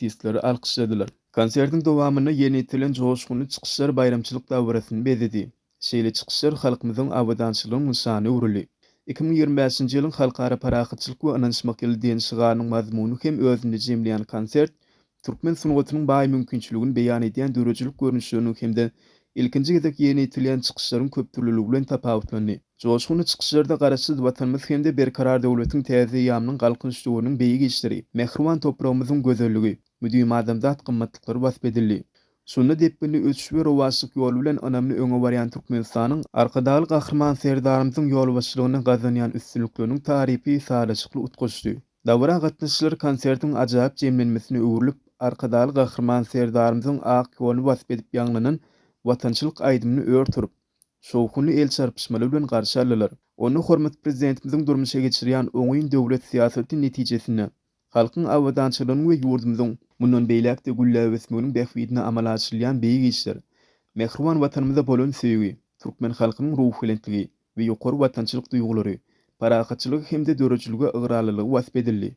artistleri alkyşladylar. Konsertiň dowamynda ýerine ýetirilen joşgunly çykyşlar baýramçylyk dabarasyny bezedi. Şeýle çykyşlar halkymyzyň abadançylygyň nyşany öwrüldi. Iki müň ýigrimi bäşinji ýylyň Halkara parahatçylyk we ynanyşmak ýyly diýen şygarynyň mazmunyny hem özünde jemleýän konsert türkmen sungatynyň baý mümkinçiligini beýan edýän döredijilik görnüşleriniň hem-de ilkinji gezek ýerine ýetirilýän çykyşlaryň köpdürlüligi bilen tapawutlandy. Joşgunly çykyşlarda Garaşsyz Watanymyz hem-de Berkarar döwletiň täze eýýamynyň Galkynyş döwrüniň beýik işleri, mähriban topragymyzyň gözelligi, müdimi adamzat gymmatlyklary wasp edildi. Şunda depginli ösüş we rowaçlyk ýoly bilen ynamly öňe barýan Türkmenistanyň Arkadagly Gahryman Serdarymyzyň ýolbaşçylygynda gazanýan üstünlikleriniň tarypy sazlaşykly utgaşdy. Dabara gatnaşyjylar konsertiň ajaýyp jemlenmesine öwrülip, Arkadagly Gahryman Serdarymyzyň ak ýoluny wasp edip ýaňlanan watançylyk aýdymyny ör turup, şowhunly el çarpyşmalar bilen garşy aldylar. Onda hormatly Prezidentimiziň durmuşa geçirýän oňyn döwlet syýasaty netijesinde halkyň abadançylygynyň we ýurdumyzyň mundan beýläk-de gülläp ösmeginiň bähbidine amala aşyrylýan beýik işler, mähriban Watanymyza bolan söýgi, türkmen halkynyň ruhubelentligi we ýokary watançylyk duýgulary, parahatçylygy hem-de döredijilige ygrarlylygy wasp edildi.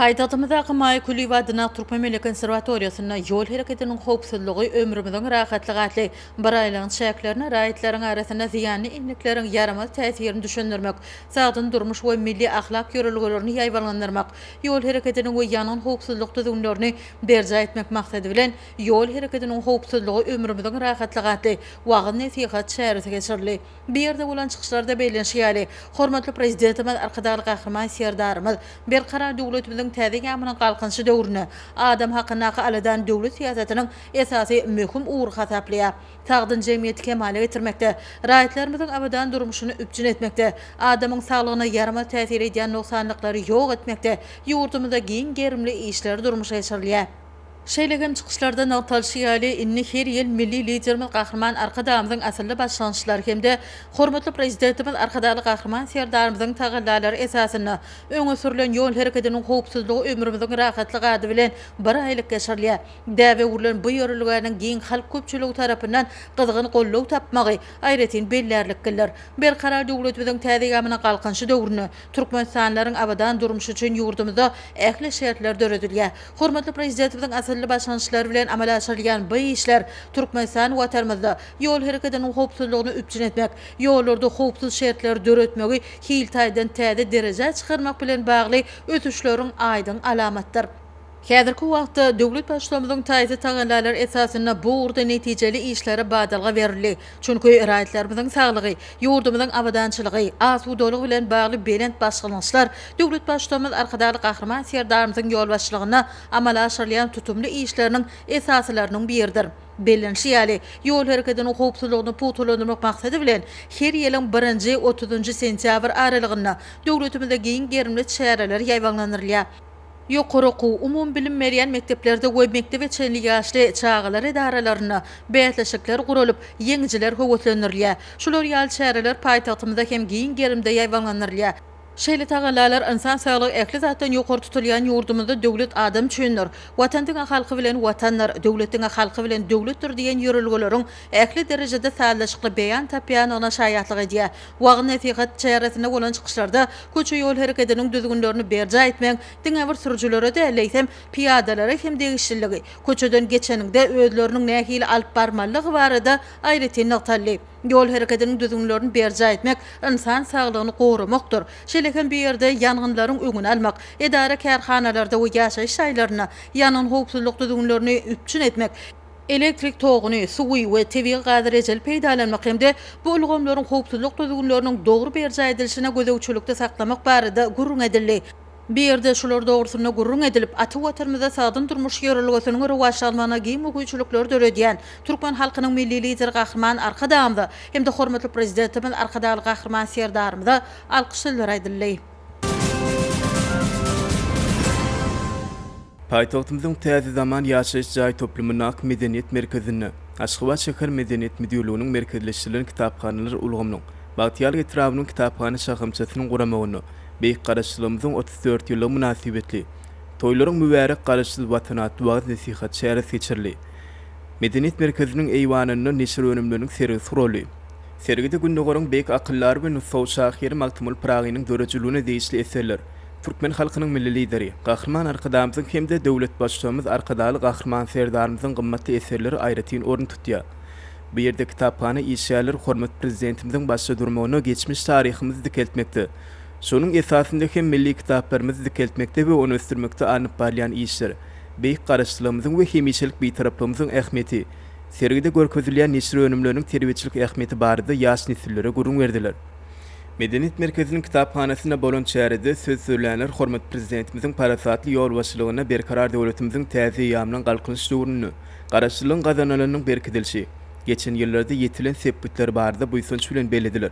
Paýtagtymyzdaky Maýa Kulyýewa atyndaky Türkmen milli konserwatoriýasynda Ýol hereketiniň howpsuzlygy, ömrümiziň rahatlygy atly biraýlygyň çäklerinde raýatlaryň arasynda zyýanly endikleriň ýaramaz täsirini düşündirmek, sagdyn durmuş we milli ahlak ýörelgelerini ýaýbaňlandyrmak, ýol hereketiniň we ýangyn howpsuzlyk düzgünlerini berjaý etmek maksady bilen Ýol hereketiniň howpsuzlygy, ömrümiziň rahatlygy atly wagyz-nesihat çäresi geçirildi. Bu ýerde bolan çykyşlarda bellenişi ýaly, hormatly Prezidentimiz Arkadagly Gahryman Serdarymyz Berkarar döwletimiziň täze ýamynyň Galkynyşy döwründe adam hakyndaky aladany döwlet syýasatynyň esasy möhüm ugry hasaplaýar. Sagdyn jemgyýeti kemala getirmekde, raýatlarymyzyň abadan durmuşyny üpjün etmekde, adamyň saglygyna ýaramaz täsir edýän nogsanlyklary ýok etmekde ýurdumyzda giň gerimli işler durmuşa geçirilýär. Şeýle hem çykyşlarda nygtalyşy ýaly, indi her ýyl milli Liderimiz Gahryman Arkadagymyzyň asylly başlangyçlary hem-de hormatly Prezidentimiz Arkadagly Gahryman Serdarymyzyň tagallalary esasynda öňe sürlen ýol hereketiniň howpsuzlygy ömrümiziň rahatlygy ady bilen bir aýlyk geçirilýär. Däbe öwrülen bu ýörelgäniň giň halk köpçüligi tarapyndan gyzgyn goldaw tapmagy aýratyn bellärliklidir. Berkarar döwletimiziň täze ýamyna galkynyşy döwründe türkmenistanlylaryň abadan durmuşy üçin ýurdumyzda ähli şertler döredilýär. Hormatly Prezidentimiziň asylly başlangyçlary bilen amala aşyrylýan bu işler Türkmenistan Watanymyzda ýol hereketiniň howpsuzlygyny üpjün etmek, ýollarda howpsuz şertleri döretmegi hil taýdan täze derejä çykarmak bilen bagly ösüşleriň aýdyň alamatydyr. Häzirki wagtda döwlet Baştutanymyzyň taýsyz tagallalary esasynda bu ugurda netijeli işlere badalga berildi. Çünki raýatlarymyzyň saglygy, ýurdumyzyň abadançylygy, asudalygy bilen bagly belent başlangyçlar döwlet Baştutanymyz Arkadagly Gahryman Serdarymyzyň ýolbaşçylygynda amala aşyrylýan tutumly işleriniň esasylarynyň biridir. Bellenilişi ýaly, ýol hereketiniň howpsuzlygyny pugtalandyrmak maksady bilen, her ýylyň birinji, otuzynjy sentýabr aralygynda döwletimizde giň gerimli çäreler ýaýbaňlandyrylýar. Ýokary okuw, umumybilim berýän mekdeplerde we mekdebe çenli ýaşly çagalar edaralarynda bäsleşikler guralyp, ýeňijiler höweslendirilýär. Şular ýaly çäreler paýtagtymyzda hem giň gerimde ýaýbaňlandyrylýar. Şeýle tagallalar ynsan saglygy ähli zatdan ýokary tutulýan ýurdumyzda Döwlet adam üçindir, Watan diňe halky bilen Watandyr, Döwlet diňe halky bilen Döwletdir diýen ýörelgeleriň ähli derejede sazlaşykly beýan tapýandygyna şaýatlyk edýär. Wagyz-nesihat çäresinde bolan çykyşlarda köçe-ýol hereketiniň düzgünlerini berjaý etmegiň diňe bir sürüjilere däl, eýsem, pyýadalara hem degişliligi, köçeden geçeniňde özleriniň nähili alyp barmalydygy barada aýratyn nygtaldy. Ýol hereketiniň düzgünlerini berjaý etmek ynsan saglygyny goramakdyr. Şeýle hem bu ýerde ýangynlaryň öňüni almak, edara-kärhanalarda we ýaşaýyş jaýlarynda ýangyn howpsuzlyk düzgünlerini üpjün etmek, elektrik toguny, suwy we tebigy gazy rejeli peýdalanmak hem-de bu ulgamlaryň howpsuzlyk düzgünleriniň dogry berjaý edilişine gözegçilikde saklamak barada gürrüň edildi. Bu ýerde şular dogrusynda gürrüň edilip, ata Watanymyzda sagdyn durmuş ýörelgesiniň rowaçlanmagyna giň mugýüçilikleri döredýän türkmen halkynyň Milli Lideri Gahryman Arkadagymyza hem-de hormatly Prezidentimiz Arkadagly Gahryman Serdarymyza alkyş sözleri aýdyldy. Paýtagtymyzyň Täze zaman ýaşaýyş jaý toplumyndaky Medeniýet merkezinde Aşgabat şäher Medeniýet müdirliginiň merkezleşdirilen kitaphanalar ulgamynyň Bagtyýarlyk etrabynyň kitaphana şahamçasynyň guramagynda Beýik Garaşsyzlygymyzyň otuz dört ýyllygy mynasybetli Toýlaryň mübärek Garaşsyz Watan atly wagyz-nesihat çäresi geçirildi. Medeniýet merkeziniň eýwanynda neşir önümleriniň sergisi guraldy. Sergide Gündogaryň beýik akyldary we nusgawy şahyry Magtymguly Pyragynyň döredijiligine degişli eserler, türkmen halkynyň Milli Lideri, Gahryman Arkadagymyzyň hem-de döwlet Baştugumyz Arkadagly Gahryman Serdarymyzyň gymmatly eserleri aýratyn orun tutýar. Bu ýerde kitaphana işgärleri hormatly Prezidentimiziň başda durmagynda geçmiş taryhymyzy dikeltmekde, şonuň esasynda hem milli kitaplarymyzy dikeltmekde we ony ösdürmekde alnyp barylýan işler, beýik Garaşsyzlygymyzyň we hemişelik Bitaraplygymyzyň ähmiýeti, Sergide görkezilýän neşir önümleriniň terbiýeçilik ähmiýeti barada ýaş nesillere gürrüň berdiler. Medeniýet merkeziniň kitaphanasynda bolan çärede söz sözlänler hormatly Prezidentimiziň parasatly ýolbaşçylygynda Berkarar döwletimiziň täze eýýamynyň Galkynyş döwründe Garaşsyzlygyň gazanylynyň berkidilişi, geçen ýyllarda ýetilen sepgitler barada buýsanç bilen bellediler.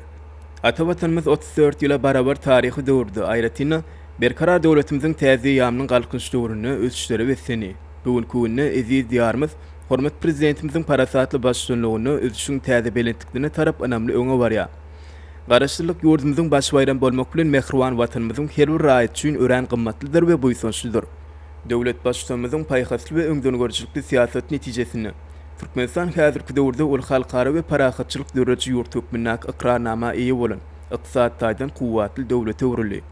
Ata Watanymyz otuz dört ýyla barabar taryhy döwürde, aýratyn-da, Berkarar döwletimiziň täze eýýamynyň Galkynyş döwründe ösüşlere beslendi. Bu günki günde eziz Diýarymyz, Hormatly Prezidentimiziň parasatly baştutanlygynda ösüşiň täze belentliklerine tarap ynamly öňe barýar. Garaşsyzlyk ýurdumyzyň baş baýramy bolmak bilen, mähriban Watanymyzyň her bir raýaty üçin örän gymmatlydyr we buýsançlydyr. Döwlet Baştutanymyzyň paýhasly we öňdengörüjilikli syýasaty netijesinde, Türkmenistan häzirki döwürde uly halkara we parahatçylyk dörediji ýurt hökmündäki ykrarnama eýe bolan, ykdysady taýdan kuwwatly döwlete öwrüldi.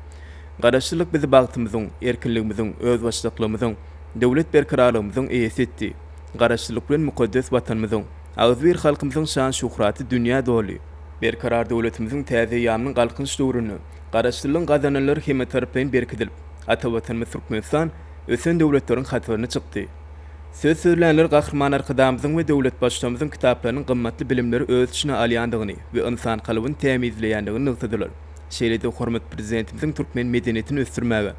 Garaşsyzlyk bizi bagtymyzyň, erkinligimiziň, özbaşdaklygymyzyň, Döwlet berkararlygymyzyň eýesi etdi. Garaşsyzlyk bilen mukaddes Watanymyzyň, agzybir halkymyzyň şan-şuhraty dünýä doldy. Berkarar döwletimiziň täze eýýamynyň Galkynyş döwründe Garaşsyzlygyň gazananlary hemmetaraplaýyn berkidilip, ata Watanymyz Türkmenistan ösen döwletleriň hataryna çykdy. Söz sözlänler Gahryman Arkadagymyzyň we döwlet Baştutanymyzyň kitaplarynyň gymmatly bilimleri öz içine alýandygyny we ynsan kalbyny tämizleýändigini nygtadylar. Şeýle-de hormatly Prezidentimiziň türkmen medeniýetini ösdürmäge,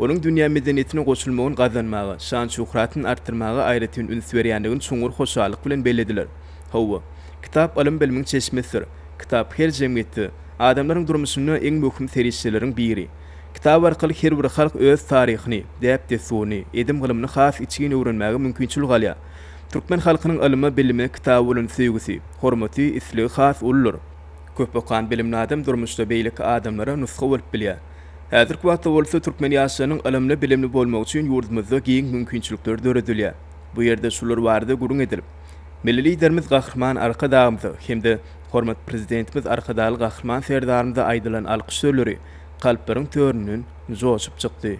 Onuň dünýä medeniýetine goşulmagyny gazanmaga, şan-şöhratyny artdyrmaga aýratyn üns berýändigini çuňňur hoşallyk bilen bellediler. Hawa, kitap ylym-bilimiň çeşmesidir. Kitap her jemgyýetde, adamlaryň durmuşynda iň möhüm serişdeleriň biri. Kitap arkaly her bir halk öz taryhyny, däp-dessuryny, edim-gylymyny has içgin öwrenmäge mümkinçilik alýar. Türkmen halkynyň ylyma, bilime, kitaba bolan söýgüsi, hormaty, islegi has uludyr. Köp okan, bilimli adam durmuşda beýleki adamlara nusga bolup bilýär. Häzirki wagtda bolsa türkmen ýaşlarynyň ylymly-bilimli bolmagy üçin ýurdumyzda giň mümkinçilikler döredilýär. Bu ýerde şular barada gürrüň edilip, Milli Liderimiz Gahryman Arkadagymyza hem-de hormatly Prezidentimiz Arkadagly Gahryman Serdarymyza aýdylan alkyş sözleri kalplaryň töründen joşup çykdy.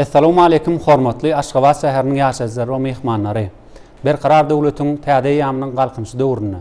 Essalawmaleýkim hormatly Aşgabat şäheriniň ýaşaýjylary we myhmanlary! Berkarar döwletiň täze eýýamynyň Galkynyşy döwründe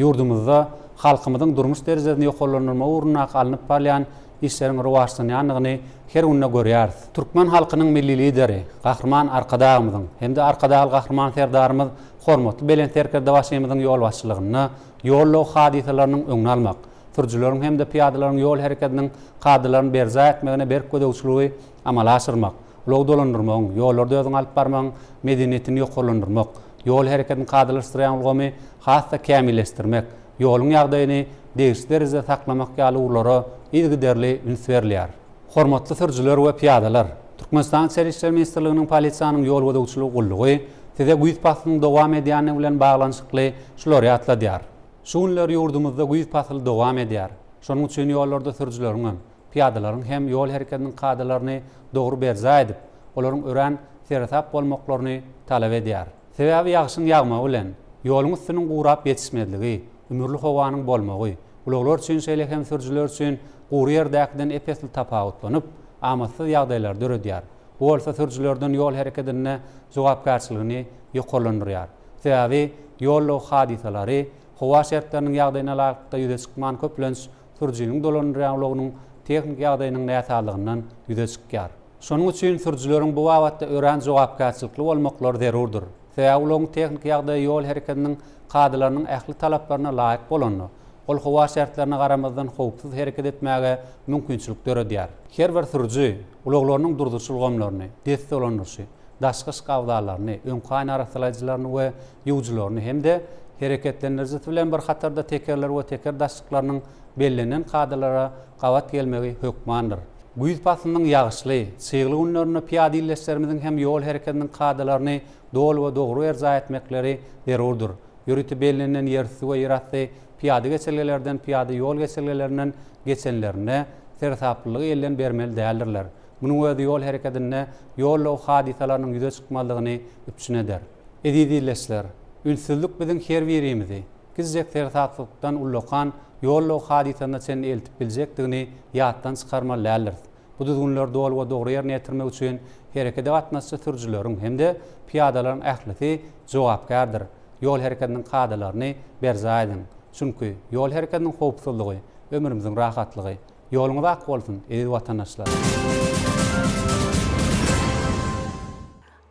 ýurdumyzda halkymyzyň durmuş derejesini ýokarlandyrmak ugrundaky alnyp barylýan işleriň rowaçlanýandygyny her günde görýäris. Türkmen halkynyň Milli Lideri Gahryman Arkadagymyzyň hem-de Arkadagly Gahryman Serdarymyz hormatly Belent Serkerdebaşymyzyň ýolbaşçylygynda ýol-ulag hadysalarynyň öňüni almak, sürüjileriň hem-de pyýadalaryň ýol hereketiniň kadalaryny berjaý etmegine berk gözegçiligi amala aşyrmak, ulag dolandyrmagyň, ýollarda özüňi alyp barmagyň medeniýetini ýokarlandyrmak, ýol hereketini kadalaşdyrýan ulgamy has-da kämilleşdirmek, ýoluň ýagdaýyny degişli derejede saklamak ýaly ugurlara yzygiderli üns berilýär. Hormatly sürüjiler we pyýadalar! Türkmenistanyň Içeri işler ministrliginiň Polisiýanyň ýol gözegçiligi gullugy Size güýz paslynyň dowam edýändigi bilen baglanyşykly şulary ýatladýar. Şu günler ýurdumyzda güýz pasyly dowam edýär. Şonuň üçin ýollarda sürüjileriň hem, pyýadalaryň hem ýol hereketiniň kadalaryny dogry berjaý edip, olaryň örän seresap bolmaklaryny talap edýär. Sebäbi ýagşyň ýagmagy bilen, ýoluň üstüniň gurap ýetişmezligi, ümürli howanyň bolmagy, ulaglar üçin şeýle hem sürüjiler üçin gury ýerdäkiden ep-esli tapawutlanyp, amatsyz ýagdaýlary döredýär. Bu bolsa sürüjilerden ýol hereketinde jogapkärçiligini ýokarlandyrýar. Sebäbi ýol-ulag hadysalary howa şertleriniň ýagdaýyna laýyklykda ýüze çykman, köplenç, sürüjiniň dolanylýan ulagynyň tehniki ýagdaýynyň näsazlygyndan ýüze çykýar. Şonuň üçin sürüjileriň bu babatda örän jogapkärçilikli bolmaklary zerurdyr. Sebäbi ulagyň tehniki ýagdaýy ýol hereketiniň kadalarynyň ähli talaplaryna laýyk bolanda, ol howa şertlerine garamazdan howpsuz hereket etmäge mümkinçilik döredýär. Her bir sürüji ulaglarynyň durzuş ulgamlaryny, dest dolandyryşy, daşky yşk abzallaryny, öňki aýna arassalaýjylaryny we ýuwujylaryny hem-de hereketlendirijisi bilen bir hatarda tekerler we teker daşşyklarynyň bellenen kadalara gabat gelmegi hökmandyr. Güýz paslynyň ýagyşly, çygly günlerinde pyýada ildeşlerimiziň hem ýol hereketiniň kadalaryny doly we dogry berjaý etmekleri zerurdyr. Ýörite bellenilen ýerüsti we ýerasty pyýada geçelgelerden, pyýada ýol geçelgelerinden geçenlerinde seresaplylygy elden bermeli däldirler. Munuň özi ýol hereketinde ýol-law hadysalarynyň ýüze çykmazlygyny üpjün eder. Eziz ildeşler! Ünssüzlik biziň her birimizi gizjek seresapsylykdan ullakan ýollaw hadysasyna çenli eltip biljekdigini ýatdan çykarmaly däldiris. Bu düzgünleri doly we dogry ýerine ýetirmek üçin herekede gatnaşyjy sürüjileriň hem-de pyýadalaryň ählisi jogapkärdir. Ýol hereketiniň kadalaryny berjaý ediň. Çünki, ýol hereketiniň howpsuzlygy, ömrümiziň rahatlygy. Ýoluňyz ak bolsun, eziz watandaşlar!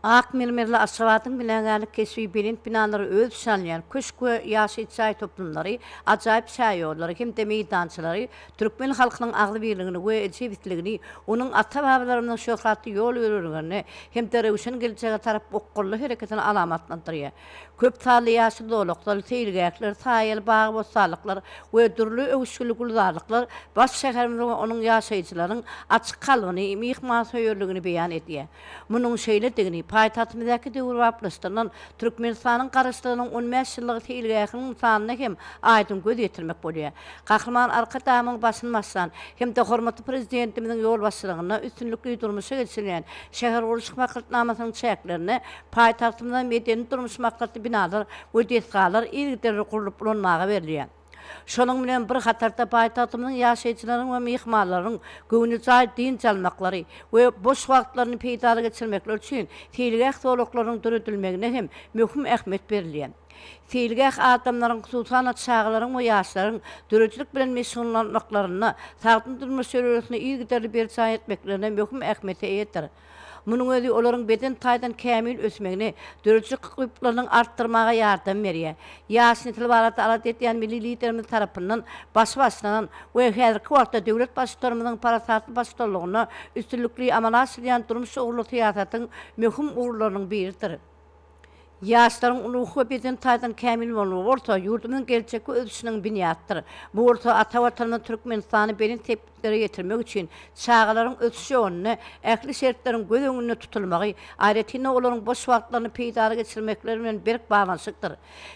Ak mermerli Aşgabadyň binagärlik keşbi belent binalary öz içine alýan köşk we ýaşaýyş jaý toplumlary, ajaýyp şäherýollary hem-de meýdançalary türkmen halkynyň agzybirligini we jebisligini, onuň ata-babalarymyzyň şöhratly ýol-ýörelgelerini hem-de röwşen geljege tarap okgunly hereketini alamatlandyrýar. Köp sanly ýaşyl zolaklar, seýilgähler, saýaly bagy-bossanlyklar we dürli öwüşginli gülzarlyklar baş şäherimiziň we onuň ýaşaýjylarynyň açyk kalbyny, myhmansöýerligini beýan edýär. Munuň şeýledigini paýtagtymyzdaky döwrebaplaşdyrylan Türkmenistanyň Garaşsyzlygynyň on bäş ýyllygy seýilgähiniň nyşanyna hem aýdyň göz ýetirmek bolýar. Gahryman Arkadagymyň başyny başlan hem-de hormatly Prezidentimiziň ýolbaşçylygynda üstünlikli durmuşa geçirilýän şähergurluşyk maksatnamasynyň çäklerinde paýtagtymyzda medeni-durmuş maksatly binalar we desgalar yzygiderli gurlup ulanmaga berilýär. Şonuň bilen bir hatarda paýtagtymyzyň ýaşaýjylarynyň we myhmanlarynyň göwnejaý dynç almaklary we boş wagtlaryny peýdaly geçirmekleri üçin seýilgäh zolaklarynyň döredilmegine hem möhüm ähmiýet berilýär. Seýilgäh adamlaryň, hususan-da, çagalaryň we ýaşlaryň döredijilik bilen meşgullanmaklarynda, sagdyn durmuş ýörelgesini yzygiderli berjaý etmeklerinde möhüm ähmiýete eýedir. Munuň özi olaryň beden taýdan kämil ösmegini, döredijilik ukyplarynyň artdyrmaga ýardam berýär. Ýaş nesil barada alada edýän milli Liderimiz tarapyndan başy başlanan we häzirki wagtda döwlet Baştutanymyzyň parasatly baştutanlygynda üstünlikli amala aşyrylýan durmuş ugurly syýasatyň möhüm ugurlarynyň biridir. Ýaşlaryň ruhy we beden taýdan kämil bolmagy bolsa ýurdumyzyň geljekki ösüşiniň binýadydyr. Bu bolsa ata Watanymyz Türkmenistany belent sepgitlere ýetirmek üçin çagalaryň ösüş ýolunda ähli şertleriň göz öňünde tutulmagy, aýratyn-da, olaryň boş wagtlaryny peýdaly geçirmekleri bilen berk baglanyşykdyr.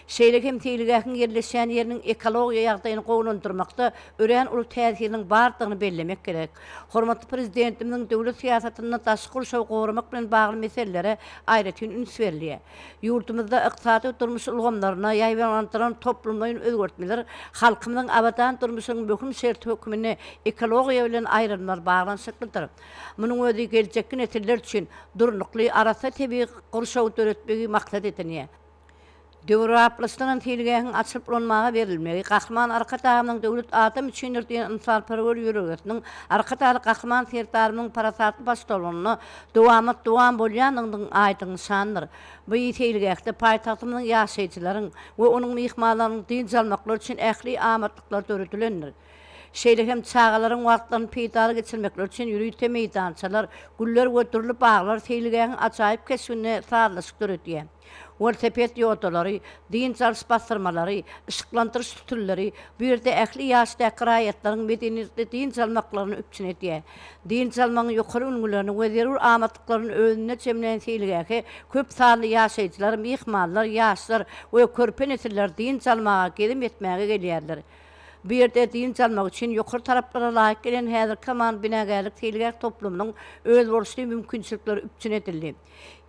Şeýle hem seýilgähiň ýerleşýän ýeriniň ekologiýa ýagdaýyny gowulandyrmakda örän uly täsiriniň bardygyny bellemek gerek. Hormatly Prezidentimiziň döwlet syýasatynda daşky gurşawy goramak bilen bagly meselelere aýratyn üns berilýär. Ýurdumyzda ykdysady we durmuş ulgamlaryna ýaýbaňlandyrylan toplumlaýyn özgertmeler halkymyzyň abadan durmuşynyň möhüm şerti hökmünde ekologiýa bilen aýrylmaz baglanyşyklydyr. Munuň özi geljekki nesiller üçin durnukly, arassa tebigy gurşawy döretmegi maksat edinýär. Döwraplysdygyny seýilgähiň açylyp ulanmaga berilmegi, Gahryman Arkadagymyzyň Döwlet adam üçindir! diýen ynsalperwer ýüregesiniň, Arkadagly Gahryman Serdarymyzyň parasatly baştutanlygynda dowamat-dowam bolýandygynyň aýdyň nyşanydyr. Bu seýilgähde paýtagtymyzyň ýaşaýjylaryň we onuň myhmanlarynyň dynç almaklary üçin ähli amatlyklary döredilendir. Şeýle hem çagalaryň wagtlaryny peýdaly geçirmekleri üçin ýörite meýdançalar, güller we dürli baglar seýilgähiň ajaýyp keşbine sazlaşyk döredýär. Welosiped ýodalary, dynç alyş bassyrmalary, yşyklandyryş sütünleri bu ýerde ähli ýaşdaky raýatlaryň medeniýetli dynç almaklaryny üpjün edýär. Dynç almagyň ýokary ülňülerini we zerur amatlyklaryny özünde jemlän seýilgähe köp sanly ýaşaýjylar, myhmanlar, ýaşlar we körpe nesiller dynç almaga, gezim etmäge gelýärler. Bu ýerde dynç almak üçin ýokary talaplara laýyk gelen häzirki zaman binagärlik seýilgäh toplumynyň özboluşly mümkinçilikleri üpjün edildi.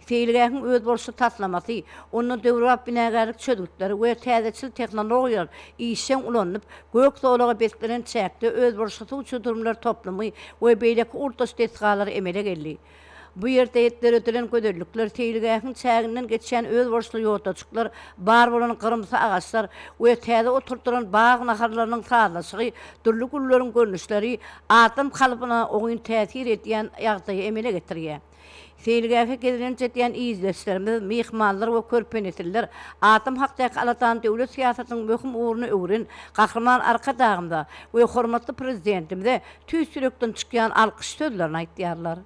Seýilgähiň özboluşly taslamasy, onda döwrebap binagärlik çözgütleri we täzeçil tehnologiýalar işjeň ulanylyp, gök zolaga beslenen çäkde özboluşly suw çudurymlar toplumy we beýleki ugurdaş desgalar emele geldi. Bu ýerde döredilen gözellikler, seýilgähiň çäginden geçýän özboluşly ýodajyklar, bar bolan gyrymsy agaçlar we täze oturdylan bag naharlarynyň sazlaşygy, dürli gülleriň görnüşleri adam kalbyna oňyn täsir edýän ýagdaýy emele getirýär. Seýilgähe gezlenç edýän ildeşlerimiz, myhmanlar we körpenesiller Adam hakdaky aladany döwlet syýasatynyň möhüm ugruna öwren Gahryman Arkadagymyza we hormatly Prezidentimize tüýs ýürekden çykýan alkyş sözlerini aýtýarlar.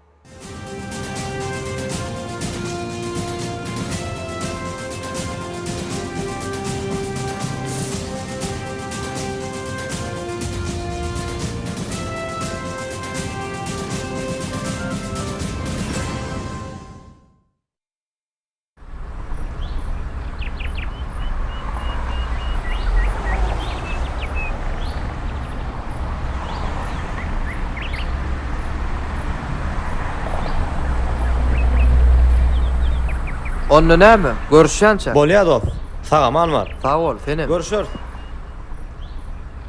Onda näme? Görüşýänçä. Bolýar dost. Sag-aman bar. Sag bol, senem. Görüşeris.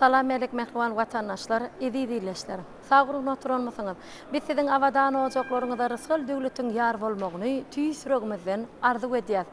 Salam Melek Mähriban Watandaşlar, Eziz Ildeşler! Sag-ruhuna oturanmysyňyz? Biz siziň abadan ojaklaryňyza rysgal-döwletiň ýar bolmagyny tüýs ýüregimizden arzuw edýäs.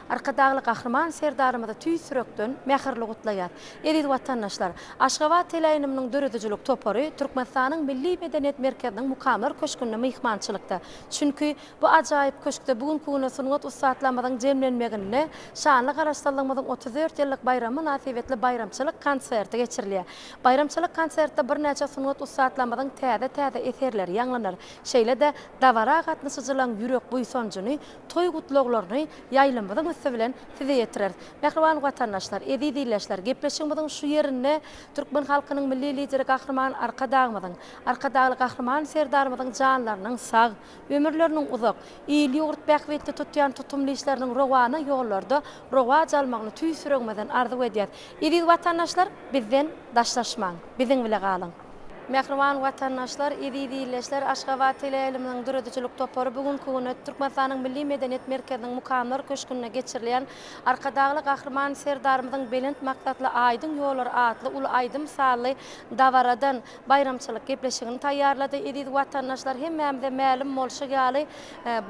Arkadagly Gahryman Serdarymyzy tüýs ýürekden mähirli gutlaýar. Eziz watandaşlar! Aşgabat teleýynymynyň döredijilik topary Türkmenistanyň Milli medeniýet merkeziniň Mukamlar köşgünde myhmançylykda. Çünki, bu ajaýyp köşkde bu günki güne sungat ussatlarymyzyň jemlenmeginde şanly Garaşsyzlygymyzyň otuz dört ýyllyk baýramy mynasybetli baýramçylyk konserti geçirilýär. Baýramçylyk konsertde birnäçe sungat ussatlarymyzyň täze-täze eserleri ýaňlanar, şeýle-de dabara gatnaşyjylaryň ýürek buýsanjyny Toý gutlaglaryny ýaýlymyzyň üsti bilen size ýetireris. Mähriban watandaşlar, eziz ildeşler, gepleşigimiziň şu ýerinde türkmen halkynyň Milli Lideri Gahryman Arkadagymyzyň, Arkadagly Gahryman Serdarymyzyň janlarynyň sag, ömürleriniň uzak, il-ýurt bähbitli tutýan tutumly işleriniň rowana ýollarda rowaç almagyny tüýs ýüregimizden arzuw edýäris. Eziz watandaşlar, bizden daşlaşmaň! Biziň bile galyň! Mähriban watandaşlar, eziz ildeşler! Aşgabat teleýaýlymynyň döredijilik topary bu günki güne Türkmenistanyň Milli medeniýet merkeziniň Mukamlar köşgünde geçirilýän Arkadagly Gahryman Serdarymyzyň Belent maksatly aýdyň ýollar atly uly aýdym sazly dabaradan baýramçylyk gepleşigini taýýarlady. Eziz watandaşlar, hemmämize mälim bolşy ýaly,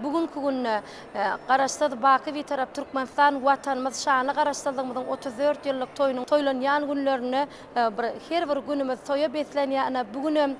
bu günki günde Garaşsyz, baky Bitarap Türkmenistan Watanymyz şanly Garaşsyzlygymyzyň otuz dört ýyllyk toýunyň toýlanýan günlerinde Bir her bir günümiz toýa beslenýär. Ine, bu gün hem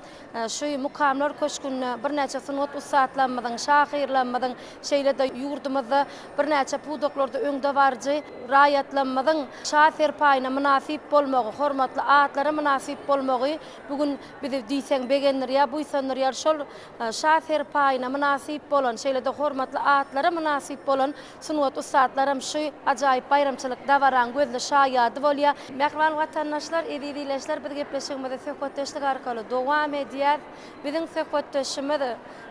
şu Mukamlar köşgünde birnäçe sungat ussatlarymyzyň, şahyrlarymyzyň, şeýle-de ýurdumyzda birnäçe pudaklarda öňdebaryjy raýatlarymyzyň şa-serpaýyna mynasyp bolmagy, hormatly atlara mynasyp bolmagy bu gün bizi diýseň begendirýär, buýsandyrýar. Şol şa-serpaýyna mynasyp bolan, şeýle-de hormatly atlara mynasyp bolan Sungat ussatlaram şu ajaýyp baýramçylyk dabaraň gözli şaýady bolýar. Mähriban watandaşlar, eziz ileçiler biz gepleşigimizi söhbetdeşlik arkaly dowam edýäs. Biziň söhbetdeşimiz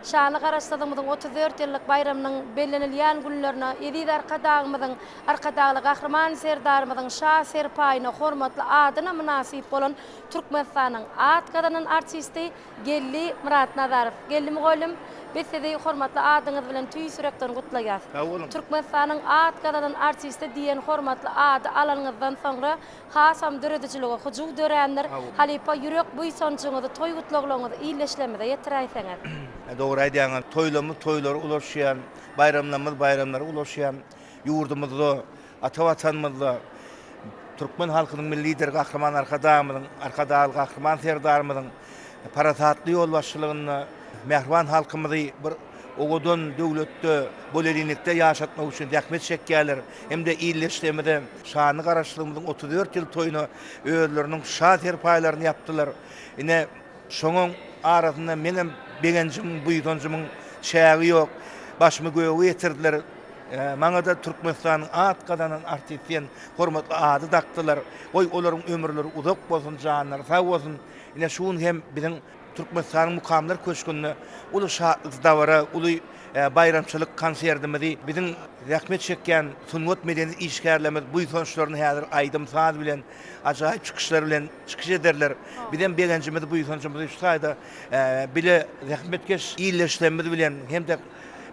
şanly Garaşsyzlygymyzyň otuz dört ýyllyk baýramynyň bellenilýän günlerine eziz Arkadagymyzyň, Arkadagly Gahryman Serdarymyzyň şa serpaýyna hormatly adyna mynasyp bolan Türkmenistanyň at gazanan artisti, Geldi Myratnazarow. Geldi mugallym, biz sizi hormatly adyňyz bilen tüýs ýürekden gutlaýas. Sag boluň. Türkmenistanyň at gazanan artisti diýen hormatly ady alanyňyzdan soňra hasam döredijilige hyjuw dörändir. Halypa ýürek buýsanjyňyzy, toý gutlaglaryňyzy ildeşlerimize ýetiräýseňiz. Dogry aýdýaňyz. Toýlarymyz toýlara ulaşýan, baýramlarymyz baýramlara ulaşýan ýurdumyzda. Ata Watanymyzda türkmen halkynyň Milli Lideri Gahryman Arkadagymyzyň, Arkadagly Gahryman Serdarymyzyň parasatly ýolbaşçylygynda mähriban halkymyzy bir owadan döwletde, bolelinilikde ýaşatmak üçin zähmet çekýärler hem-de ildeşligimize, şanly Garaşsyzlygymyzyň otuz dört ýyl toýuna özleriniň şa serpaýlaryny ýapdylar. Ine, şonuň arasynda meňem begenjimiň, buýsanjymyň çägi ýok. Başymy göge ýetirdiler. Maňada Türkmenistanyň at gazanan artist diýen hormatly ady dakdylar. Goý, olaryň ömürleri uzak bolsun, janlary sag bolsun. Ine, şu gün hem biziň Türkmenistanyň Mukamlar köşgünde uly şatlyk dabara, uly baýramçylyk konsertimizi biziň zähmet çekýän sungat-medeni işgärlerimiz buýsançlaryny häzir aýdym-saz bilen, ajaýyp çykyşlar bilen çykyş ederler. Bizem begenjimizi, buýsanjymyzy şu taýda bile zähmetkeş ildeşlerimiz bilen hem-de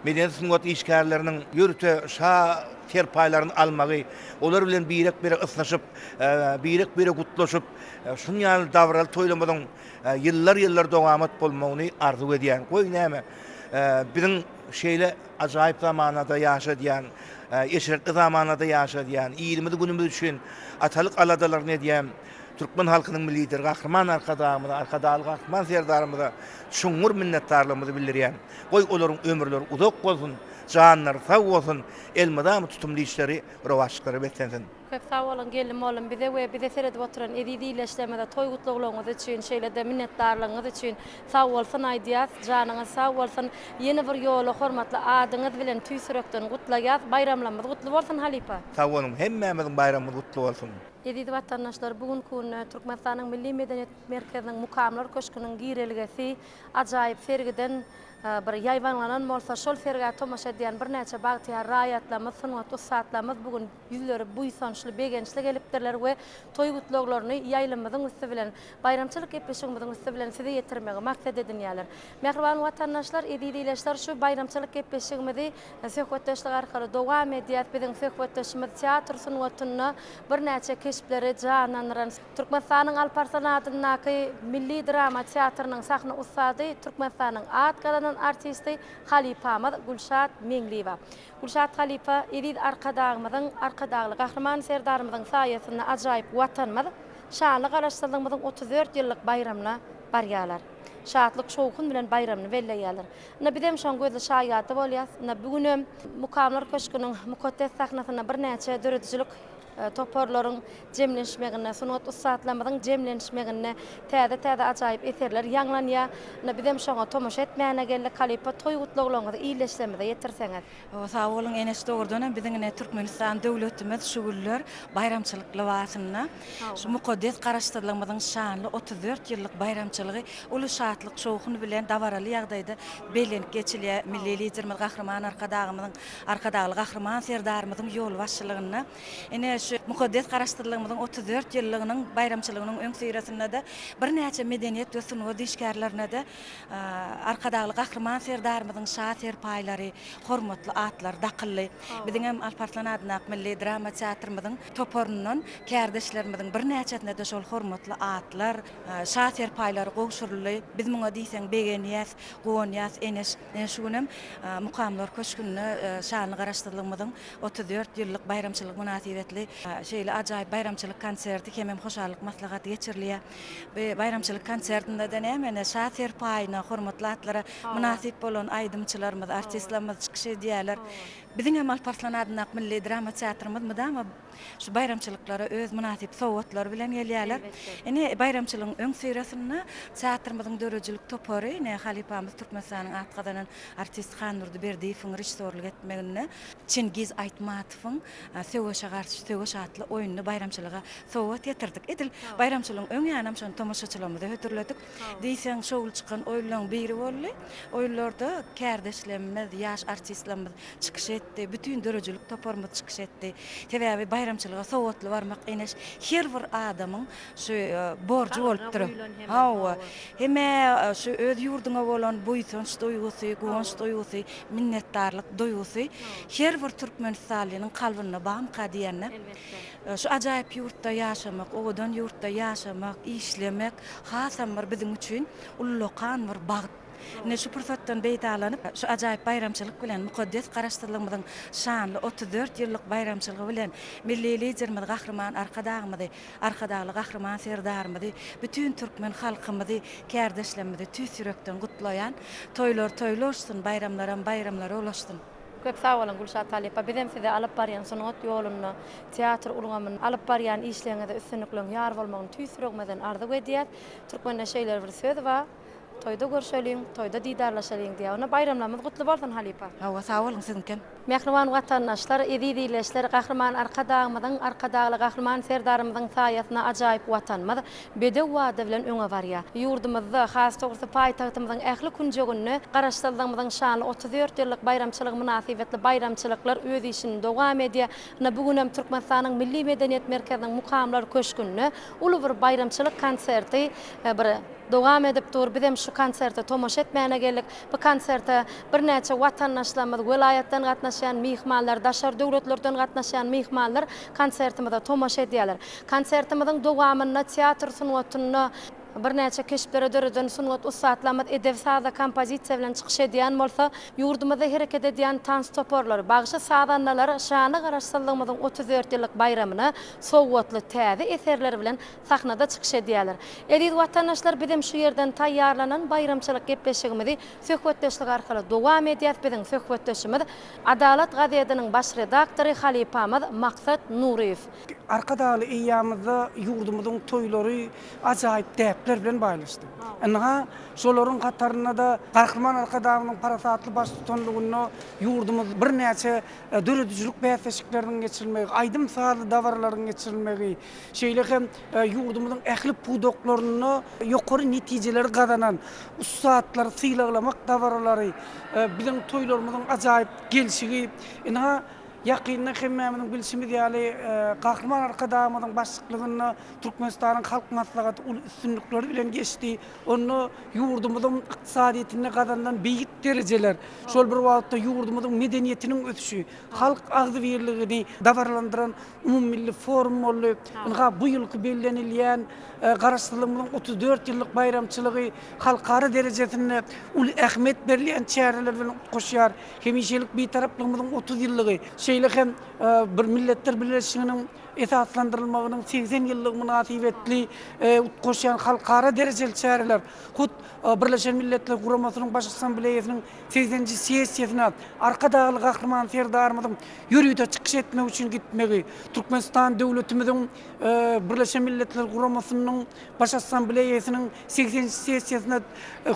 medeni-sungat işgärleriniň ýörite şa serpaýlaryny almagy, olar bilen birek-birek ysnyşyp, birek-birek gutlaşyp, şunuň ýaly dabaraly toýlarymyzyň ýyllar-ýyllar dowamat bolmagyny arzuw edýän. Goý, näme, biziň şeýle ajaýyp zamanada ýaşadýan, eşretli zamanada ýaşadýan, ilimiz-günümiz üçin atalyk aladalaryny edýän türkmen halkynyň Milli Lideri Gahryman Arkadagymyza, Arkadagly Gahryman Serdarymyza çuňňur minnetdarlygymyzy bildirýän. Goý olaryň ömürleri uzak bolsun, janlary sag bolsun, elmydama tutumly işleri, rowaçlyklara beslensin. Köp sag boluň Geldi mollum bize we bize seredip oturan eziz illeşlerimize toý gutlaglaryňyz üçin şeýlede minnetdarlygyňyz üçin sag bolsun aýdýas janyňyz sag bolsun ýene bir ýola hormatly adyňyz bilen tüýs ýürekden gutlaýas baýramlamyz gutly bolsun halypa. Sag boluň hemmämiziň baýramymyz gutly bolsun. Eziz watandaşlar bu günki günde Türkmenistanyň Milli medeniýet merkeziniň Mukamlar köşküniň girelgesi Ajaýyp sergiden bir ýaýbaňlanan bolsa, şol sergä tomaşa edýän birnäçe bagtyýar raýatlarymyz, sungat ussatlarymyz bu gün ýüzleri buýsançly, begençli gelipdirler we toý gutlaglaryny ýaýlymyzyň üsti bilen, baýramçylyk gepleşigimiziň üsti bilen size ýetirmegi maksat edinýärler. Mähriban watandaşlar, eziz ileçler, şu baýramçylyk gepleşigimizi söhbetdeşlik arkaly dowam edýäs. Biziň söhbetdeşimiz teatr sungatynda birnäçe keşpleri janlandyran, Türkmenistanyň Alparslan adyndaky milli drama teatrynyň sahna ussady, Türkmenistanyň at gazanan artisti halypamyz Gülşat Meňliýewa. Gülşat halypa eziz Arkadagymyzyň, Arkadagly Gahryman Serdarymyzyň saýasynda ajaýyp Watanymyz şanly Garaşsyzlygymyzyň otuz dört ýyllyk baýramyna barýarlar. Şatlyk-şowhun bilen baýramyny belleýärler. Ine, bizem şoň gözli şaýady bolýas. Ine, bu günem Mukamlar köşgüniň mukaddes sahnasynda birnäçe döredijilik toparlaryň jemlenişmeginde, sungat ussatlarymyzyň jemlenişmeginde täze-täze ajaýyp eserler ýaňlanýar. Ine, bizem şoňa tomaşa etmäne geldik. Halypa toý gutlaglaryňyzy ildeşlerimize ýetirseňiz. Sag boluň Eneş dogrudan hem biziň ine Türkmenistan döwletimiz şu günler baýramçylyk lybasynda şu mukaddes Garaşsyzlygymyzyň şanly otuz dört ýyllyk baýramçylygy uly şatlyk-şowhun bilen dabaraly ýagdaýda bellenip geçilýär. Milli Liderimiz Gahryman Arkadagymyzyň Arkadagly Gahryman Serdarymyzyň ýolbaşçylygynda ine şu mukaddes Garaşsyzlygymyzyň otuz dört ýyllygynyň baýramçylygynyň öňüsyrasynda-da birnäçe medeniýet we sungat işgärlerine-de Arkadagly Gahryman Serdarymyzyň şa serpaýlary, hormatly atlary dakyldy. Biziň hem Alp Arslan adyndaky milli drama teatrymyzyň toparyndan kärdeşlerimiziň birnäçesine-de şol hormatly atlar, şa serpaýlary gowşuryldy. Biz muňa diýseň begenýäs. Guwanýas Eneş şu gün hem Mukamlar köşgünde şanly Garaşsyzlygymyzyň otuz dört ýyllyk baýramçylygy mynasybetli şeýle ajaýyp baýramçylyk konserti hemem hoşallyk maslahaty geçirilýär. Bu baýramçylyk konsertinde-de nämä-ne şa serpaýyna, hormatly atlara mynasyp bolan aýdymçylarymyz, artistlerimiz çykyş edýärler. Biziň hem Alp Arslan adyndaky milli drama teatrymyz mydama Şu baýramçylyklara öz mynasyp sowgatlary bilen gelýärler. Ine, baýramçylygyň öňüsyrasynda teatrymyzyň döredijilik topary, ine, halypamyz Türkmenistanyň at gazanan artisti Handurdy Berdiýewiň režissýorlyk etmeginde Çingiz Aýtmatowyň Söweşe garşy söweş atly oýnuny baýramçylyga sowgat getirdik. Edil baýramçylygyň öň ýanynam şony tomaşaçylarymyza hödürledik. Diýseň şowly çykan oýunlaryň biri boldy. Oýunlarda kärdeşlemmiz, ýaş artistlamyz çykyş etdi. Bütin döredijilik toparymyz çykyş etdi. Sebäbi baýramçylyga sowatly barmak eneş her bir adamyň şu borjy bolupdyr. Hawa, hemä şu öz ýurduňa bolan buýsanç duýgusy, guwanç duýgusy, minnetdarlyk duýgusy her bir türkmenistanlynyň kalbynda bamyka diýende. Elbetde. Şu ajaýyp ýurtda ýaşamak, owadan ýurtda ýaşamak, işlemek hasam bir biziň üçin ullakan bir bagt. Ine, şu pursatdan peýdalanyp, şu ajaýyp baýramçylyk bilen, mukaddes Garaşsyzlygymyzyň şanly otuz dört ýyllyk baýramçylgy bilen Milli Liderimiz Gahryman Arkadagymyzy, Arkadagly Gahryman Serdarymyzy, bütin türkmen halkymyzy, kärdeşlerimizi tüýs ýürekden gutlaýan. Toýlar toýly oşsun, baýramlaram baýramlara ulaşsyn! Köp sag boluň Gülşat halypa bizem size alyp barýan sungat ýolunda teatr ulgamynda alyp barýan işleriňizde üstünlikleň ýar bolmagyny tüýs ýüregimizden arzuw edýäs. Türkmende şeýle bir söz bar, Toýda görşeliň, toýda didarlaşalyň diýýär. Onda baýramlarymyz gutly bolsun halypa. Hawa sag boluň siziňkem. Mähriban Watandaşlar, Eziz Illeşler, Gahryman Arkadagymyzyň, Arkadagly Gahryman Serdarymyzyň saýasynda ajaýyp Watanymyz, bedew wada bilen öňe barýar. Ýurdumyzda, has dogrusy, paýtagtymyzyň ähli künjeginde Garaşsyzlygymyzyň şanly otuz dört ýyllyk baýramçylygy mynasybetli baýramçylyklar öz işini dowam edýär. Ine, bu gün hem Türkmenistanyň Milli medeniýet merkeziniň Mukamlar köşgünde uly bir baýramçylyk konserti bir dowam edip dur. Biz hem şu konserte tomaşa etmäne geldik. Bu konserte birnäçe watandaşlarymyz, welaýatdan gatnaşýan myhmanlar, daşary döwletlerden gatnaşýan myhmanlar konsertimize tomaşa edýärler. Konsertimiziň dowamynda teatr sungatynda birnäçe keşpleri döreden sungat ussatlarymyz edebi-saza kompozisiýa bilen çykyş edýän bolsa, ýurdumyzda hereket edýän tans toparlary, bagşy-sazandalar şanly Garaşsyzlygymyzyň otuz dört ýyllyk baýramyna sowgatly täze eserleri bilen sahnada çykyş edýärler. Eziz watandaşlar, bizem şu ýerden taýýarlanan baýramçylyk gepleşigimizi söhbetdeşlik arkaly dowam edýäs, biziň söhbetdeşimiz Adalat gazediniň baş redaktory halypamyz Maksat Nuryýew. Arkadagly eýýamyzda ýurdumyzyň toýlary ajaýyp däpler bilen baýlaşdy. Ynha, şolaryň hatarynda-da Gahryman Arkadagymyzyň parasatly baştutanlygynda ýurdumyz birnäçe döredijilik bäsleşikleriniň geçirilmegi, aýdym-sazly dabaralaryň geçirilmegi, şeýle hem ýurdumyzyň ähli pudaklarynda ýokary netijeleri gazanan ussatlary sylaglamak dabaralary biziň toýlarymyzyň ajaýyp gelşigi, ynha, Ýakynda hemmämiziň bilşimiz ýaly, Gahryman Arkadagymyzyň başlyklygynda Türkmenistanyň Halk Maslahaty uly üstünlikler bilen geçdi. Onda ýurdumyzyň ykdysadyýetinde gazanylan beýik derejeler, şol bir wagtda ýurdumyzyň medeniýetiniň ösüşi, halk agzybirligini dabaralandyran umumymilli forum boldy. Ynha, bu ýylky bellenilýän Garaşsyzlygymyzyň otuz dört ýyllyk baýramçylygy halkara derejesinde uly ähmiýet berilýän çäreler bilen utgaşýar. Hemişelik Bitaraplygymyzyň otuz ýyllygy, şeýle hem bir Milletler Bileleşiginiň esaslandyrylmagynyň segsen ýyllygy mynasybetli utgaşýan halkara derejeli çäreler hut Birleşen Milletler Guramasynyň Baş Assambleýasynyň segseninji sessiýasyna Arkadagly Gahryman Serdarymyzyň ýörite çykyş etmek üçin gitmegi Türkmenistan döwletimiziň Birleşen Milletler Guramasynyň Baş Assambleýasynyň Segsenji sessiýasynda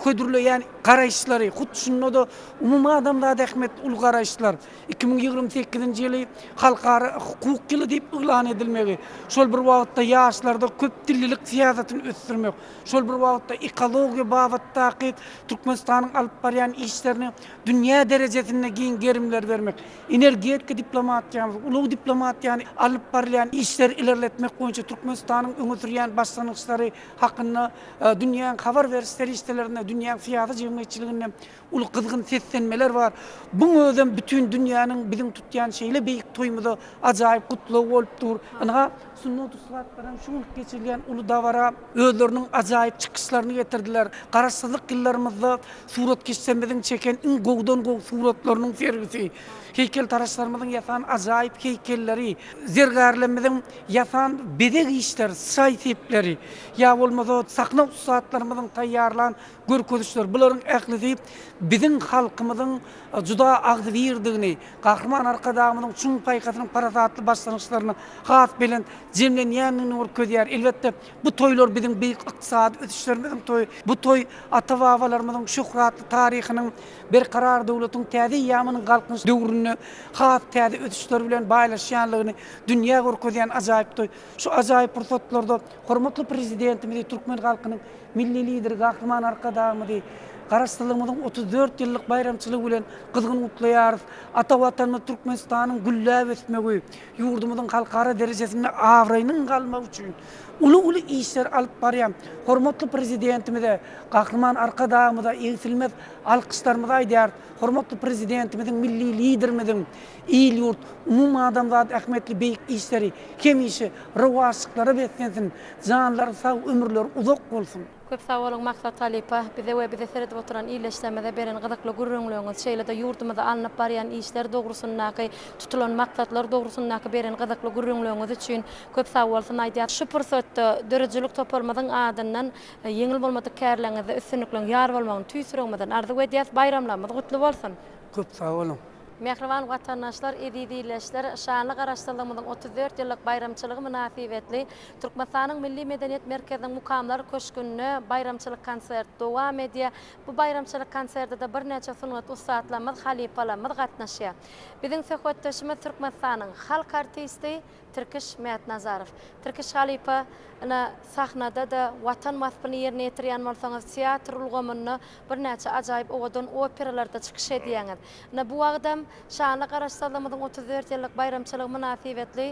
hödürleýän garaýyşlary, hut şunda-da umumadamzada ähmiýetli uly garaýyşlar, iki müň ýigrimi sekizinji ýyly Halkara hukuk ýyly diýip yglan edilmegi, şol bir wagtda ýaşlarda köpdillilik syýasatyny ösdürmek, şol bir wagtda ekologiýa babatdaky Türkmenistanyň alyp barýan işlerine dünýä derejesinde giň gerimleri bermek, energetika diplomatiýamyzy, ulag diplomatiýany alyp barylýan işleri ilerletmek boýunça Türkmenistanyň öňe sürýän başlangyçlary, hakynda dünýäň habar beriş serişdelerinde, dünýäň syýasy jemgyýetçiliginde uly gyzgyn seslenmeler bar. Buň özem bütin dünýäniň biziň tutýan şeýle beýik toýumyza ajaýyp gutlagy bolup dur. Ynha, sungat ussatlary hem şu gün geçirilýän uly dabara özleriniň ajaýyp çykyşlaryny getirdiler. Garaşsyzlyk ýyllarymyzda suratkeşlerimiziň çeken iň gowudan-gowy suratlarynyň sergisi, heýkeltaraşlarymyzyň ýasan ajaýyp heýkelleri, zergärlerimiziň ýasan bezeg işleri, çaý sepleri ýa bolmasa sahna ussatlarymyzyň taýýarlan görkezişleri, bularyň ählisi biziň halkymyzyň juda agzybirdigini, Gahryman Arkadagymyzyň çuň paýhasynyň parasatly başlangyçlaryny has belent jemlenýändigini görkezýär. Elbetde, bu toýlar biziň beýik ykdysady ösüşlerimiziň toýy. Bu toý ata-babalarymyzyň şöhratly taryhynyň, Berkarar döwletiň täze eýýamynyň Galkynyş döwründe has täze ösüşler bilen baýlaşýandygyny, dünýä görkezýän ajaýyp toý. Şu ajaýyp pursatlarda hormatly Prezidentimizi, türkmen halkynyň Milli Lideri Gahryman Arkadagymyzy Garaşsyzlygymyzyň otuz dört ýyllyk baýramçylygy bilen gyzgyn gutlaýarys. Ata Watanymyz Türkmenistanyň gülläp ösmegi, ýurdumyzyň halkara derejesinde abraýynyň galmagy üçin uly-uly işleri alyp barýan hormatly Prezidentimize, Gahryman Arkadagymyza egsilmez alkyşlarymyzy aýdýarys. Hormatly Prezidentimiziň, milli Liderimiziň Il-ýurt, umumadamzat ähmiýetli beýik işleri hemişe rowaçlyklara beslensin, janlary sag, ömürleri uzak bolsun! Köp sag boluň Maksat halypa, bize we bizi seredip oturan ildeşlerimize beren gyzykly gürrüňleriňiz, şeýle-de ýurdumyzda alnyp barýan işler dogrusyndaky, tutulan maksatlar dogrusyndaky beren gyzykly gürrüňleriňiz üçin köp sag bolsun aýdýarys. Şu pursatda döredijilik toparymyzyň adyndan ýeňil bolmadyk kärleriňizde üstünlikleriň ýar bolmagyny tüýs ýüregimizden arzuw edýäris. Baýramlarymyz gutly bolsun! Köp sag boluň! Mähriban watandaşlar, eziz ildeşler! Şanly Garaşsyzlygymyzyň otuz dört ýyllyk baýramçylygy mynasybetli Türkmenistanyň Milli medeniýet merkeziniň Mukamlar köşgünde baýramçylyk konsert dowam edýär. Bu baýramçylyk konserde-de birnäçe sungat ussatlarymyz, halypalarymyz gatnaşýar. Biziň söhbetdeşimiz Türkmenistanyň halk artisti, Tirkiş Mätnazarow. Tirkiş halypa, ine, sahnada-da Watan waspyny ýerine ýetirýän bolsaňyz, teatr ulgamynda birnäçe ajaýyp owadan operalarda çykyş edýäňiz. Ine, bu wagtam şanly Garaşsyzlygymyzyň otuz dört ýyllyk baýramçylygy mynasybetli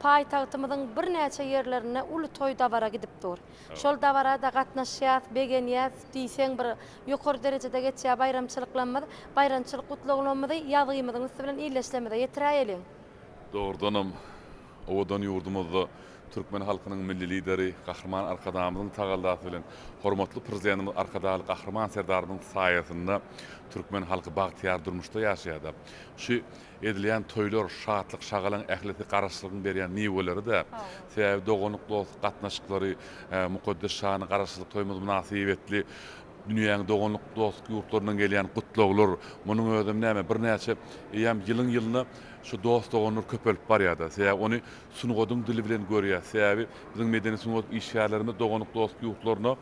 paýtagtymyzyň birnäçe ýerlerinde uly toý-dabara gidip dur. Şol dabara-da gatnaşýas, begenýäs diýseň bir ýokary derejede geçýär baýramçylyklarymyz. Baýramçylyk gutlaglamyzy ýazgymyzyň üsti bilen illeşlemize ýetiräýeliň! Dogrudanam, owadan ýurdumyzda türkmen halkynyň Milli Lideri Gahryman Arkadagymyzyň tagallasy bilen, hormatly Prezidentimiz Arkadagly Gahryman Serdarymyzyň saýasynda türkmen halky bagtyýar durmuşda ýaşaýar-da. Şu edilýän toýlar, şatlyk-şagalaň ählisi Garaşsyzlygyň berýän miweleri-dä. Sebäbi doganlyk-dostluk gatnaşyklary, mukaddes şanly Garaşsyzlyk toýumyz mynasybetli Dünýäň doganlyk dost ýurtlaryndan gelýän gutlaglar, munuň özem näme, birnäçe eýýäm ýylyň-ýylyna şu dost-doganlar köpelip barýar-da. Sebäbi ony sungatyň dili bilen görýäs. Sebäbi biziň medeni-sungat işgärlerimiz doganlyk dost ýurtlaryna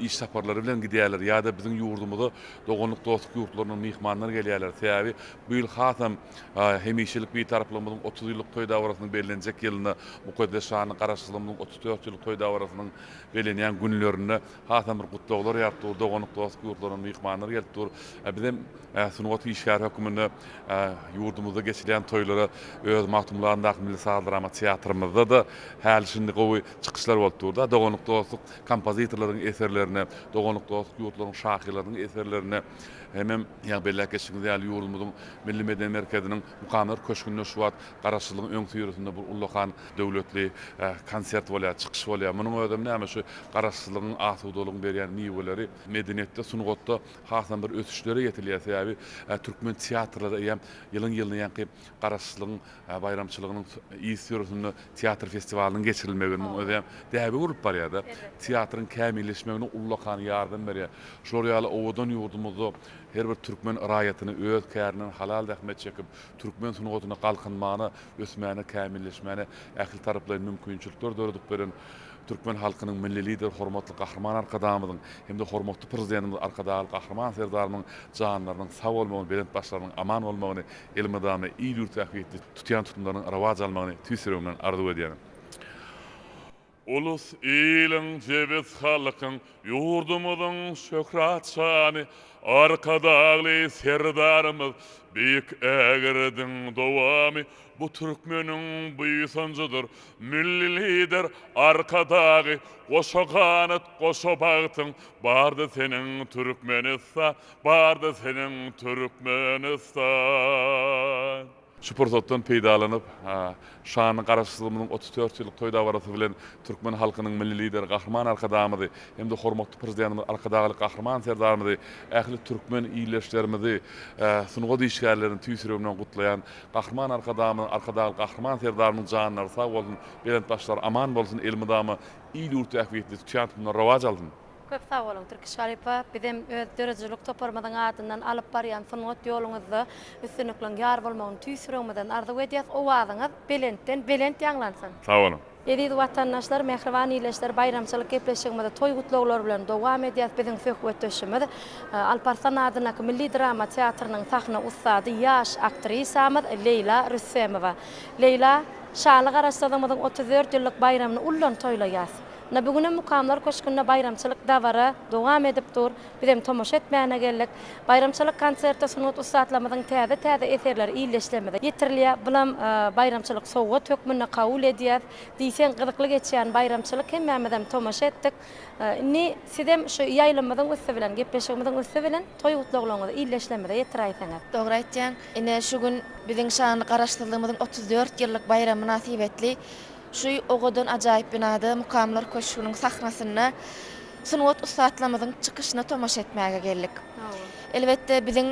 iş saparlary bilen gidýärler ýa-da biziň ýurdumyza doganlyk dost ýurtlaryndan myhmanlar gelýärler. Sebäbi bu ýyl hasam hemişelik Bitaraplygymyzyň otuz ýyllyk toý dabarasynyň bellenjek ýylynda, mukaddes şanly Garaşsyzlygymyzyň otuz dört ýyllyk toý dabarasynyň bellenýän günlerinde, Hasam bir gutlaglar ýaryp dur, doganlyk dostluk ýurtlarynyň myhmanlary gelip dur. Biz hem sungat işgäri hökmünde ýurdumyzda geçilýän toýlara öz Magtymgulandaky milli saz-drama teatrymyzda-da häli-şindi gowy çykyşlar bolup dur-da. Doganlyk dostluk kompozitorlaryň eserlerine, doganlyk dostluk ýurtlaryň şahyrlarynyň eserlerine hemem ýa belläp geçdigiňiz ýaly ýurdumyzyň Milli medeni merkeziniň Mukamlar köşgünde şu wagt Garaşsyzlygyň öňüsyrasynda bir ullakan Döwletli konsert bolýar, çykyş bolýar. Munuň özem näme şu garaşsyzlygyň, asudalygyň berýän miweleri. Medeniýetde, sungatda hasam bir ösüşlere ýetilýär. Sebäbi türkmen teatrlary eýýäm ýylyň-ýylyna ýaňky garaşsyzlygyň baýramçylygynyň yz ýörüsinde teatr festiwalynyň geçirilmegi munuň özem däbe bolup barýar-da. Teatryň kämilleşmegine ullakan ýardam berýär. Şular ýaly owadan ýurdumyzda her bir türkmen raýatyny öz kärinden halal zähmet çekip, türkmen sungatyna galkynmagyna, ösmäne, kämilleşmäne ähli taraplaýyn mümkinçilikler döredip beren türkmen halkynyň Milli Lideri hormatly Gahryman Arkadagymyzyň hem-de hormatly Prezidentimiz Arkadagly Gahryman Serdarymyzyň janlarynyň sag bolmagyny, belent başlarynyň aman bolmagyny, elmydama il-ýurt ähmiýetli tutýan tutumlarynyň rowaç almagyny tüýs ýüregimden arzuw edýärin. Ulus, iliň, jebis halkyň, ýurdumyzyň şöhrat şany Arkadagly Serdarymyz beýik ägirdiň dowamy bu türkmeniň buýsanjydyr, Milli Lider Arkadagy goşa ganat, goşa bagtyň bardy seniň Türkmenistan, bardy seniň Türkmenistan. Şu pursatdan peýdalanyp, şanly Garaşsyzlygymyzyň otuz dört ýyllyk toý dabarasy bilen türkmen halkynyň Milli Lideri Gahryman Arkadagymyzy hem-de hormatly Prezidentimiz Arkadagly Gahryman Serdarymyzy, ähli türkmen ildeşlerimizi, sungat işgärlerini tüýs ýüregimden gutlaýan. Gahryman Arkadagymyzyň, Arkadagly Gahryman Serdarymyzyň janlary sag bolsun, belent başlary aman bolsun, elmydama il-ýurt ähmiýetli, çyýan tohumlary rowaç alsyn! Köp sag boluň, Türkiş halypa! Bizem öz döredijilik toparymyzyň adyndan alyp barýan sungat ýoluňyzda üstünlikleň ýar bolmagyny tüýs ýüregimizden arzuw edýäs. Owazyňyz belentden belent ýaňlansyn! Sag boluň! Eziz Watandaşlar, mähriban ildeşler, baýramçylyk gepleşigimizi toý gutlaglar bilen dowam edýäs. Biziň söhbetdeşimiz Alparslan adyndaky milli drama teatrynyň sahna ussady, ýaş aktrisamyz Leýla Rüstemowa. Leýla, şaly Garaşsyzlygymyzyň otuz dört ýyllyk baýramyny ullan toýlaýas. Ynha bu günem Mukamlar köşgünde baýramçylyk dabara dowam edip dur. Bizem tomaşa etmäne geldik. Baýramçylyk konserte sungat ussatlarymyzyň täze-täze eserleri illeşlerimize ýetirilýär. Bulam baýramçylyk sowgat hökmünde kabul edýäs. Diýseň gyzykly geçýän baýramçylyk hemmämizem tomaşa etdik. Indi sizem şu ýaýlymyzyň üsti bilen, gepleşigimiziň üsti bilen toý gutlaglaryňyzy illeşlerimize ýetiräýseňiz. Dogry aýtýaň. Ine şu gün biziň şanly Garaşsyzlygymyzyň otuz dört ýyllyk baýramy mynasybetli Şu owadan ajaýyp binada Mukamlar köşgüniň sahnasynda sungat ussatlarymyzyň çykyşyna tomaşa etmäge geldik. Elbetde, biziň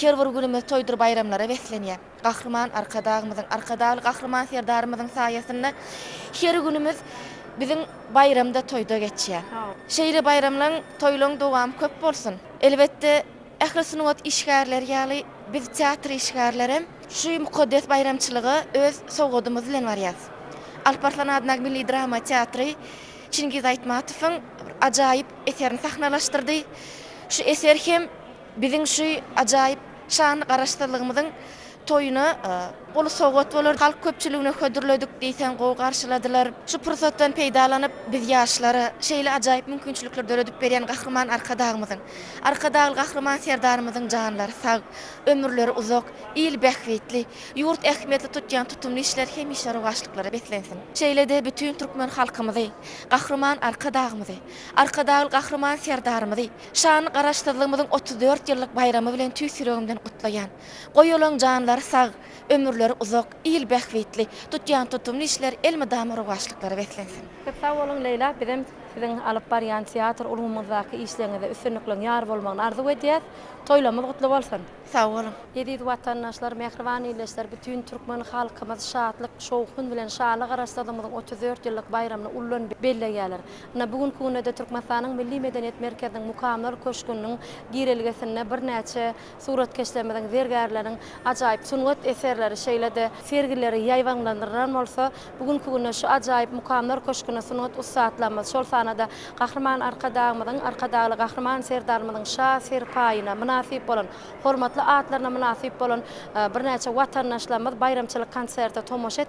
her bir günümiz toýdur baýramlara beslenýär. Gahryman Arkadagymyzyň, Arkadagly Gahryman Serdarymyzyň saýasynda her günümiz biziň baýramda, toýda geçýär. Şeýle baýramlaryň, toýlaryň dowamy köp bolsun! Elbetde. Ähli sungat işgärleri ýaly, biz teatr işgärleri hem şu mukaddes baýramçylyga öz sowgadymyz bilen barýarys. Alp Arslan adyndaky milli drama teatry Çingiz Aýtmatowyň bir ajaýyp eserini sahnalaşdyrdy. Şu eser hem biziň şu ajaýyp şanly Garaşsyzlygymyzyň Toýuna uly sowgat bolar, halk köpçüligine hödürledik diýseň gowy garşyladylar. Şu pursatdan peýdalanyp, biz ýaşlara şeýle ajaýyp mümkinçilikleri döredip berýän Gahryman Arkadagymyzyň, Arkadagly Gahryman Serdarymyzyň janlary sag, ömürleri uzak, il bähbitli, ýurt ähmiýetli tutýan tutumly işleri hemişe rowaçlyklara beslensin. Şeýle-de bütin türkmen halkymyzy, Gahryman Arkadagymyzy, Arkadagly Gahryman Serdarymyzy şanly Garaşsyzlygymyzyň otuz dört ýyllyk baýramy bilen tüýs ýüregimden gutlaýan. Goý olaň janlary sag, ömürleri uzak, il bähbitli tutýan tutumly işleri elmydama rowaçlyklara beslensin. Köp sag boluň Leýla bizem siziň alyp barýan teatr ulgamyňyzdaky işleriňizde üstünlikleň ýar bolmagyny arzuw edýäs. Toýlarmyz gutly bolsun. Sag boluň. Eziz watandaşlar, mähriban ildeşler, bütin türkmen halkymyz şatlyk, şowhun bilen Şaly Garaşsyzlygymyzyň otuz dört ýyllyk baýramyny ullan belleýärler. Ynha, bu günki günde-de Türkmenistanyň Milli medeniýet merkeziniň Mukamlar köşgüniň girelgesinde birnäçe Suratkeşlerimiziň, zergärleriň ajaýyp sungat eserleri şeýle-de sergileri ýaýbaňlandyrylan bolsa, bu günki günde şu ajaýyp Mukamlar köşgüne sungat ussatlarymyz, şol sanda-da Gahryman Arkadagymyzyň, Arkadagly Gahryman Serdarymyzyň şa serpaýyna mynasyp bolan, hormatly atlaryna mynasyp bolan birnäçe watandaşlarymyz baýramçylyk konserte tomaşa etmäge